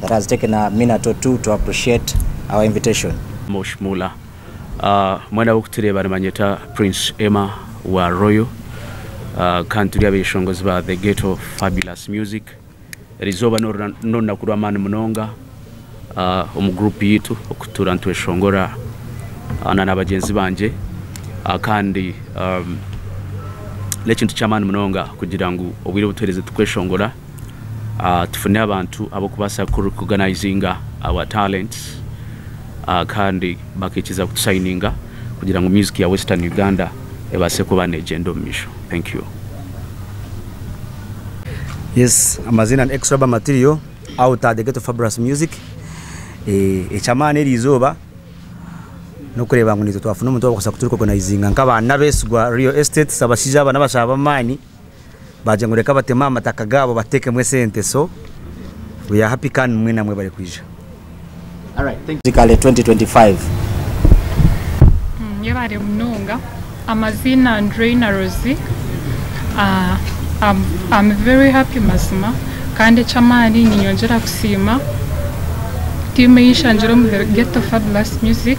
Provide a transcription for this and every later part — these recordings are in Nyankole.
that has taken a minute or two to appreciate our invitation. Mosh Mula. Mwena abarikutureeba nibanyeta Prince Emma wa Royal kandi turi abeshongozi ba The Ghetto Fabulous Music. Eri izooba n'orunaku rw'amaani munonga omu group yaitu okutuura nitweshongora na nabagyenzi bangye kandi n'ekintu ky'amaani munonga kugira ngu obwire obutuhereze turi kweshongora. tufune abantu ab'okubaasa ku recognizinga our talents kandi bakaikiza ku tu sayininga kugira ngu music ya western Uganda ebaase kuba negyenda omu misho. Thank you. Yes, amazina ni Extra Ba Material out at the Ghetto Fabulous Music. Eh, eky'amaani eri izooba n'okureeba ngu naitwe twafuna omuntu owaabaasa ku tu recognizinga nk'abaana abeesigwa Real Estate, abashaija aba n'abashaho b'amaani. bagira ngu reka bateme aha mataka gaabo batekemu esente so we are happy kandi nimwo namwe bari kwija. Kale 2025. Mwebare munonga amaziina ndi Reina Rosie am very happy mazima kandi ekyamaani ninyongyera kusiima team eyi nshangyire omu Ghetto Fabulous music.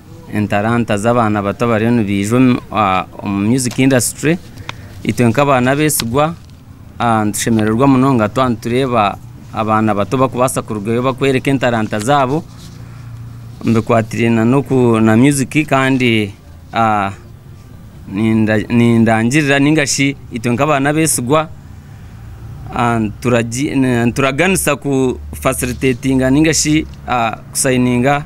entaranta z'abaana bato abariyo nibaija omu music industry, itwe nk'abaana abeesigwa nitushemererwa munonga twaba nitureeba abaana bato barikubaasa kurugayo barikworeka entaranta zaabo, bikwatiraine na music kandi nindangirira nainga shi itwe nk'abaana abeesigwa nituraganisa ku facilitatinga nainga shi ku sayininga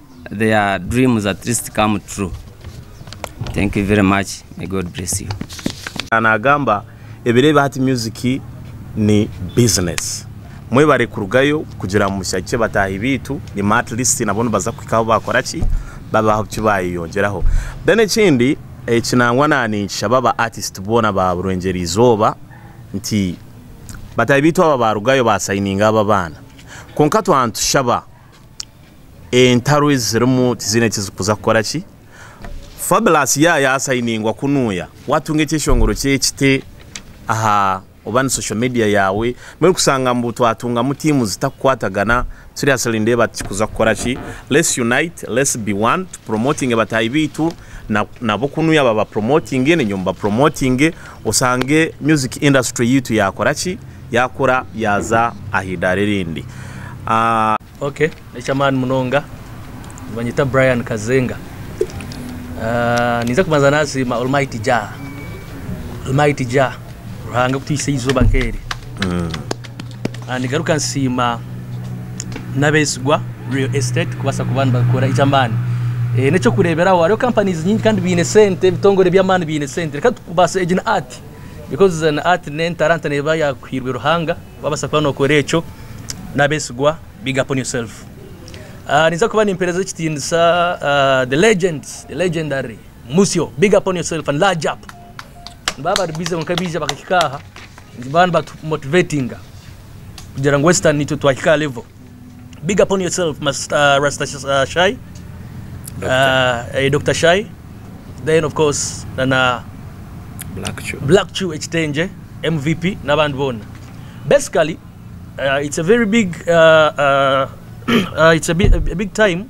their dreams at least come true thank you very much may God bless you. Nagamba ebiro ebi hati music ni business mwebare kurugayo kugira ngu mushagikye bataahi baitu enyima at least nabo nibaza kuhika ahu bakora ki babe ahu ki bayeyongyeraho then ekindi eki nangwa na ninkishaba aba artist boona ba Burwegyere Izooba nti bataahi baitu aba barugayo ba signinga aba abaana kwonka twaba nitushaba Entaro ezi zirimu tiziine eki zirikuza kukora ki. Fabulous ya yasayiningwa ku nuuya watunga ekyeshongoro ky'ekiti aha oba ni social media yaawe mbwenu orikushanga ngu twatungamu tiimu zitakukwatagana seriously nindeeba tikikuza kukora ki. Let's unite, let's be one tupuromotinge bataahi baitu na nabo ku nuuya babapuromotinge nainywe mubapuromotinge Osange music industry yaitu yakora ki? Yakura yaza ah'idara erindi. Ok nekyamaani munonga nibanyeta Brian Kazenga ninza kubanza nasiima Almighty Jah Almighty Jah Ruhanga kutwiitsa eizoba nkeri. Nigaruka nsiima n'abeesigwa Real Estate kubaasa kuba nibakora eky'amaani. Eh, n'eky'okureeberaho hariho companies nyingi kandi baine sente, ebitongore by'amaani biine sente. Reka tubaase egi ni art because eh, ni art n'entaranta neeba yaakuhairwe Ruhanga. Waabaasa kuba nookora ekyo n'abeesigwa big up on yourself. Ah, ninza kuba nimpeereza ekitiinisa ah, the legend, the legendary Musyo big up on yourself and large up. baaba bari busy kwonka baija bakahika aha baba nibatu motivatinga kugira ngu western itwe twahika aha level big up on yourself Master Rasta uh, Shai uh, eh, Dr Shai then of course na na Black Chu. Black Chu ekitengye MVP n'abandi boona basically uh, it's a very big uh, uh, uh, it's a big, a big time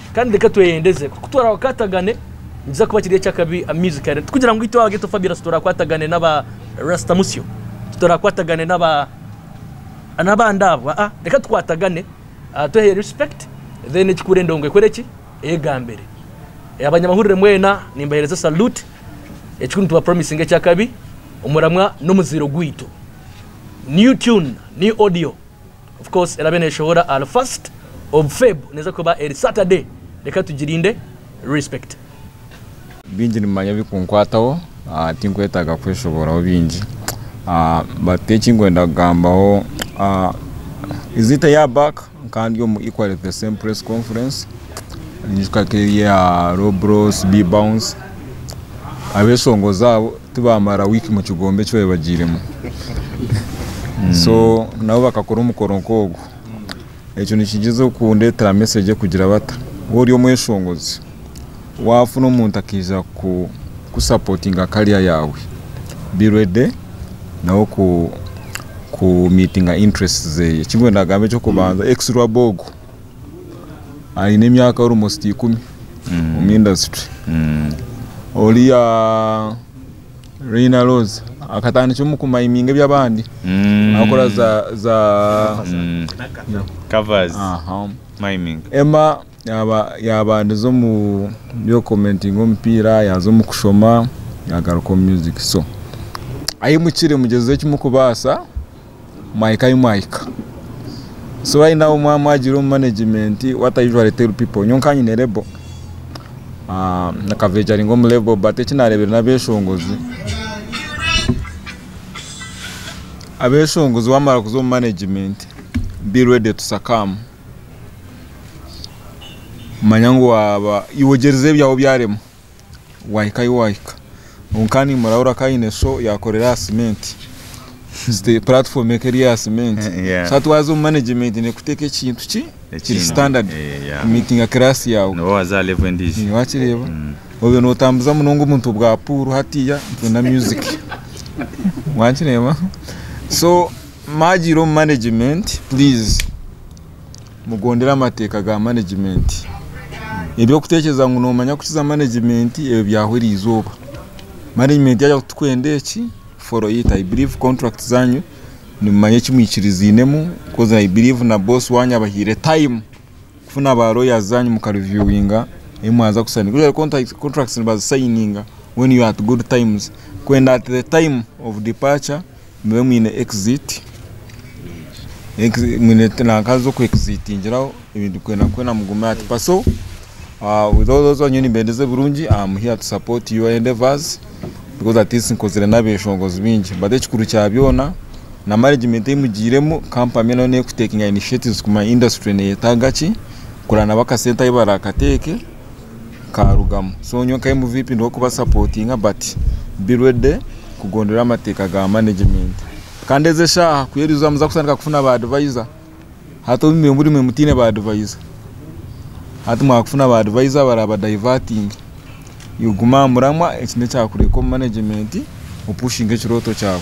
Kandi reka tweyendeze ku ku turakwatagane nikiza kuba kiri eky'akabi amaizi kare. Tikugira ngu itwe aba Ghetto Fabulous turakwatagane n'aba Rasta Musyo, titurakwatagane n'aba n'abandi abo. Aa reka tukwatagane twehe respect then ekikuura endongo ekore ki? Eyegambire. Abanyamahurire mwena nimbaheereza salute. Ekikuru nituba promisinga eky'akabi omuramwa n'omuzairo gwaitu. New tune, new audio. Of course erabe neshohora ahari first of Feb neza kuba eri Saturday reka tugirinde respect. Bingi nimumanya ebikunkwataho tinkwetaaga kweshoboraho bingi but ekinkwenda kugambaho is it a year back nkaba ndi omu equally the same press conference ninyijuka nkeri aha Rob Ross, Bbounce abeshongozi abo tibamara wiiki mukigombe eki baabaire bagiiremu so nabo bakakora omukoro nkogwo ekyo nikigyeza okundetera message ekugira bata waaba ori omweshongozi wafuna omuntu akaija ku supportinga career yaawe be ready nawe ku meetinga interests zeye, ekindikugyenda kugamba ekyokubanza ex Rwaboogo. aine emyaka almost ikumi omu industry. Oriya Reina Roz akatandikira omu ku mining ebyabandi akora za covers mining. Emma yabandize omu byo ku commentinga omupiira yaza omu kushoma yagaruka omu music so ahimukire mugyezese eki mukubasa. mwahika ahu mwahika so right now mwaba mwagire omu management what i usually tell people nyowe nkaba nyine label nakavejaringa omu label but eki nareebire n'abeshongozi abeshongozi wamara kuza omu management be ready to succumb manya ngu waaba iwe ogyerize ebyawe byarema wahika ahu wahika kwonka nimurabura ku aine sho yakorera aha cementi puratifomu eka eri aha cementi so hati waza omu management nekuteeka ekintu ki kiri standard kumitinga class yaawe niwe waza aha level endiijo wakireeba obwe notambuza munonga obuntu bwa puuru hatiiya na music wakireeba so mwagiire omu management please. Mugondere amateeka ga manegimenti. Eby'okuteekyereza ngu noomanya kukiza manegimenti, ebyo byahwa erizooba. Manegimenti yagira ngu turikwenda eki, follow it, I believe contract zaanyu nimumanya eki mwikiriziinemu coz I believe na boss waanyu abahaire time kufuna ba lawyers zaanyu muka reviewinga ebi mwaza kusayininga. Usually contract contracts nibazisayininga when you are at good times kwenda at the time of departure Mube mwine exit mwine nanka z'oku exitingiraho ebintu kwena kwena mugume ati paso with all those abanywe nimbendeza ebirungi am here to support your endeavours because at least nkozire n'abeshongozi bingi but ekikuru kya byona na management ei mugiiremu company nayo neku takinga initiatives kumanya industry neyetaaga ki kureba nabo akasente ahu barakateeke. nkarugamu so nyowe nka MVP ndi kuba sapotinga but be ready kugondora amateka ga management kandi ezi eshaha ku eriza muza kutandika kufuna ba advisor hati obu mwe buri mwe mutine ba advisor hati mwakufuna ba advisor baraba divertinge iwe guma aha muramwa eki nekyakureka omu management opushinge ekiroto kyawe.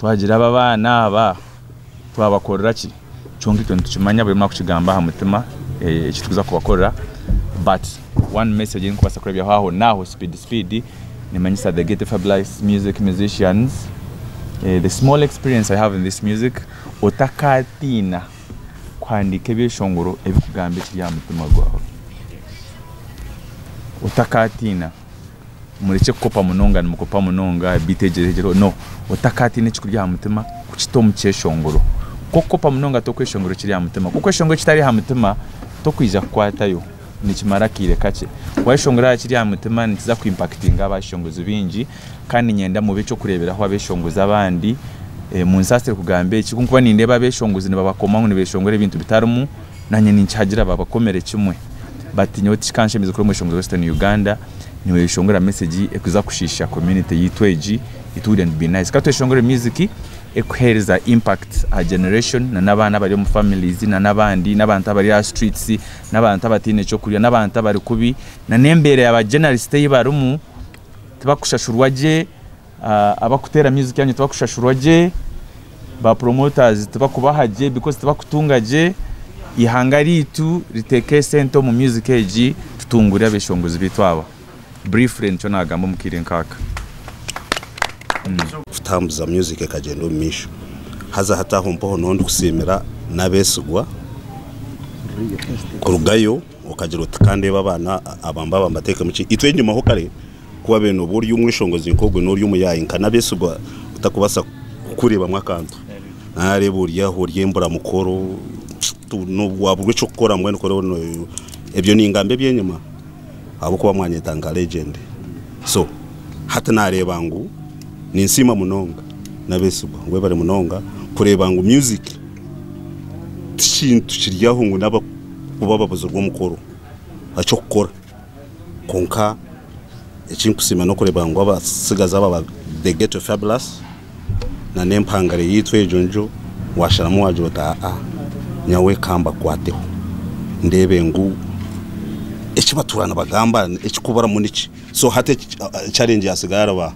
Twagira aba abaana aba twabakorera ki? Kyonka ekyo nitukimanya buri omwe akukigamba aha mutima eki turikuza kubakorera but one message ei ndikubaasa kureebyaho aho n'aho speed speed nimanyisa the Ghetto Fab Life Music Musicians the small experience I have in this music otakaatiina kuhandiika ebyeshongoro ebirikugamba ekiri aha mutima gwaawe otakaatiina. Murekye kukopa munonga nimukopa munonga beitu egyeregyerweho no otakatiine ekikuri aha mutima kukita omu kyeshongoro kuko kukopa munonga tokweshongora ekiri aha mutima ku okweshongora ekitari aha mutima tokwija kukwatayo nikimara akaire kakye wayeshongora aha kiri aha mutima nikiza ku impakitinga abashongozi baingi kandi niinyenda mube eky'okureeberaho abeshongozi abandi munsaasire kugamba eki ku nkuba nindeeba abeshongozi nibabakomaho nibeshongora ebintu bitarimu Naanye ninkihagira babakomere kimwe but nyowe tikikanshemeza kuri omweshongoro western Uganda niweshongora message ekuza kushiisha community yaitu egi it wouldn't be nice katweshongore music ekuhereza impact aha generation na nabaana abari omu families na nabandi nabantu abari aha streets nabantu abataine kyokurya nabantu abari kubi na nembeera ya ba journalist eyi barimu tibakushashurwa gye Abakuteera music yangye tibakushashurwa gye, ba promoters tibakubaha gye because tibakutunga gye, ihanga ryaitu riteeke esente omu music egi tutungure abeshongozi baitu aba. Briefly nikyo nagamba omu kaire nk'aka. kutambuza music ekagyenda omu maisho. Haza hati aho mpoho noho ndikusiimira n'abeesigwa kurugayo. Okagira oti, Ka ndeebe abaana aba mbaaba mbateekemu ki? Itwe nyimaho kare ku waabaire nooba ori omweshongozi nk'ogwo nari omuyaayi nka Nabesigwa otarikubaasa kukureebamu akantu. Naareeba ori aho ori emburamukoro, waaburwa eky'okukora mbwenu kuri ori nooyerwa. Ebyo ningamba eby'enyima ahabw'okuba mwanyeeta nka legend. So hati naareeba ngu ninsiima munonga Nabesigwa, webare munonga kureeba ngu music ti kintu kiri aho ngu n'aba. ku bababuzirwe omukoro eky'okukora kwonka ekinkusiima n'okureba ngu abatsigazi aba ba The Ghetto Fabulous na n'empangare yaitu egyo ngyo washaramu wagira oti aa nyawe kambakwateho ndeebe ngu ekibatuura nibagamba ekikuburamu niki so hati challenge yatsigara ba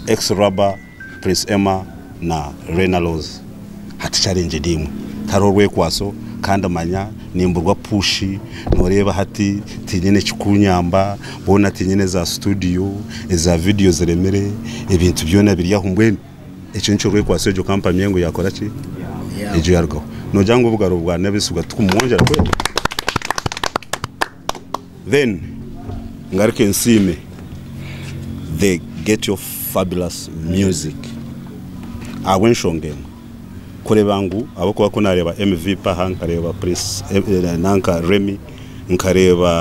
Ex-Rubber. Prince Emma na Rena Rose hati challenge eri emwe tihariho rwekwaso kandi manya nimburwa push noreeba hati tinyine ekikunyamba boona tinyine za studio eza video ziremire ebintu byoona biri aho mbwenu ekyo nikyo rwekwaso egyo company engo yakora ki egyo yarugaho nogira ngu obugaro bwa nabesigwa tikumwongyera kwega. Then ngaruke nsiime the get of fabulous music ahabw'enshonga emwe kureeba ngu ahabw'okuba ku naareeba MV Paha nkareeba Prince nanka Remy nkareeba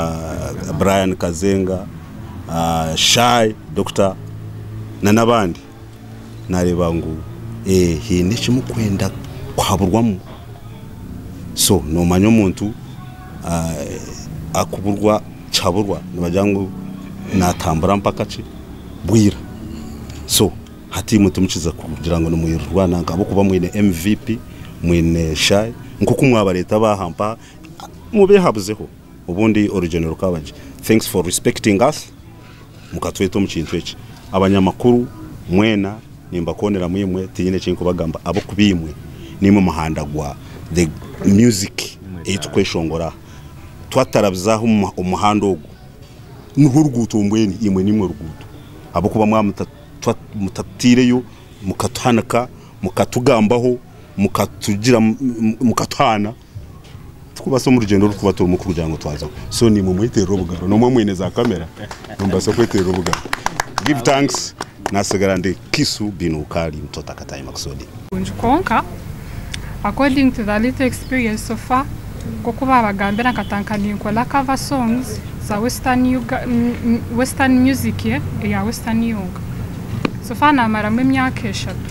Brian Kazenga, Shy, Doctor na n'abandi. nareeba ngu haine eki murikwenda kuhaburwamu, so nomanya omuntu arikuburwa kihaburwa nibagira ngu natambura mpaka ki bwira, so hati imwe timukiija kugira ngu nimwirirwa nanka ahabw'okuba mwine MVP, mwine shy, nkoku mwabareeta baha mpaha mubehabuzeho. Obundi orugyendo rukaba gye. Thanks for respecting us mukatweta omu kintu eki. Abanyamakuru mwena nimbakoonera mwimwe tinyine eki nkubagamba ab'okuba imwe nimwe muhanda gwa the music ei tukweshongora aha. Twatarabizaaho omuhanda ogu nirwo ruguuto mbwenu imwe nimwe ruguuto ahabw'okuba mwaba muta mutatutaireyo mukatuhanika mukatugambaho mukatugira mukatuhaana. Tikubaasa omu rugyendo oru kuba turimu kugira ngu twaza ku so nimwe mweterera obugaro nomwe mwine za kamera nimubaasa kweterera obugaro give thanks nasigara ndi kisu bin ukali mtota katayi makusudi. Kurungi kwonka according to the little experience so far nkoku babagambira nkatanka ninkola cover songs za western western music eya western yonka so far namaramu emyaka eshatu.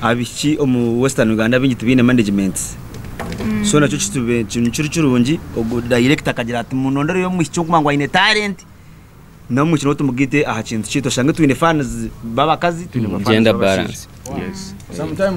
Abaishiki omu western Uganda baingi tibaine management so nakyo nikiri kirungi ogu director akagira ati munondereyo omwishiki oguma ngu aine talent na omwishiki nowe tumugite aha kintu kyaitu oshange twine fans babakazi twine ba fans babashaija